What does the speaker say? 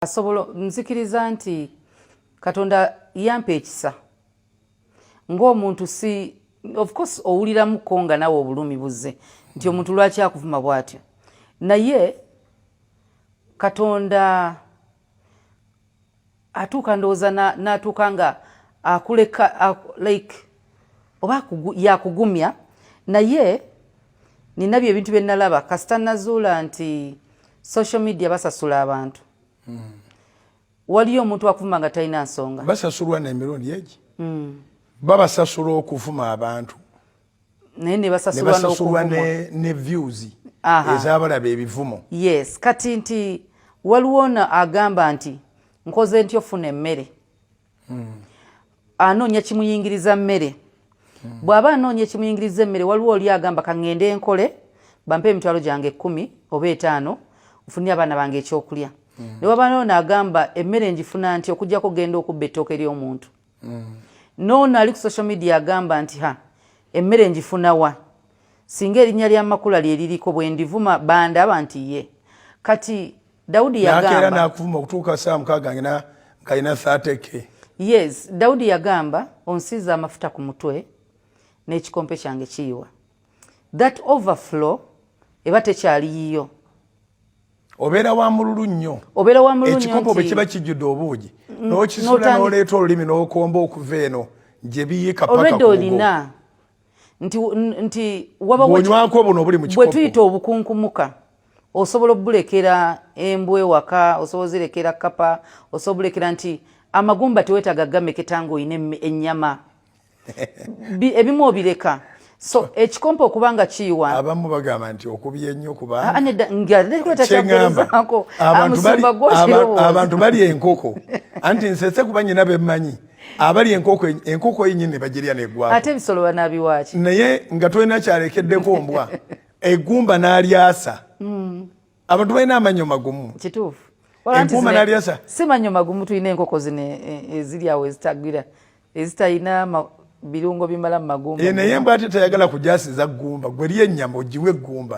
asobola nzikiriza nti katonda yampa ekisa ng'omuntu si of course owuliramuko nga nawe obulumi buzze nti omuntu lwaki akuvuma bw'atyo naye katonda atuuka ndowooza n'atuuka nga akuleka like oba yakugumya naye nina bye ebintu byenalaba kasita nazuula nti social media basasula abantu mm. waliyo omuntu akuvuma nga talina nsonga basasulwa nemirundi egi mm. babasasula okuvuma abantu naye nebasasulwa ne views ezabalaba ebivumo yes kati nti waliwo ono agamba nti nkoze ntya ofuna emmere hmm. anoonya kimuyingiriza mmere hmm. bw'aba anoonya ekimuyingiriza emmere waliwo oli agamba kaŋŋende enkole bampe emitwalo gyange ekkumi oba etaano nfunire abaana bange ekyokulya hmm. ne waba noono agamba emmere ngifuna nti okugyako genda okubba ettooke ly'omuntu noono ali ku social media agamba nti ha emmere ngifuna wa singa erinnya lya makula lyeririko bwendivuma bandaba nti ye kati Daudi yagamba nakera nakuvuma okutuuka saa mukaaga ngina ngayina 30k. Yes, Daudi yagamba onsiza amafuta ku mutwe n'ekikompe kyange kiyiwa. That overflow eba tekyali yiyo. Obeera wa mululu nnyo. Obeera wa mululu nnyo. Ekikopo bwe kiba kijjudde obuugi. Mm, N'okisula n'oleeta olulimi n'okomba okuva eno gye biyiika paka ku mugo. Olwedde olina nti nti wabaonywako buno obuli mu kikopo bwetuyita obukunkumuka osobola obulekera embwe waka osobola zirekera kapa osobola bulekera nti amagumba tewetaga gameketa nga oyina ennyama ebimu obireka so ekikompo okuba nga kiyiwa abamu bagamba nti okubye nnyo kubanekuletakyagamba abantu bali enkoko anti nsese kuba nyina bemmanyi abali enkoko enkoko yinyini bajiria ne gwa ate bisolo banabi wachi naye nga twena kyalekede ko mbwa egumba nalyasa mm. abantu bayina amanyo magumu kitufu empuma nalyasa si manyo magumu tuyina enkoko zine e, ezili awo ezitagira ezitayina ma, birungo bimala magumu e, naye mbwa ate tayagala kujasiza gumba gweliye nyama ojiwe gumba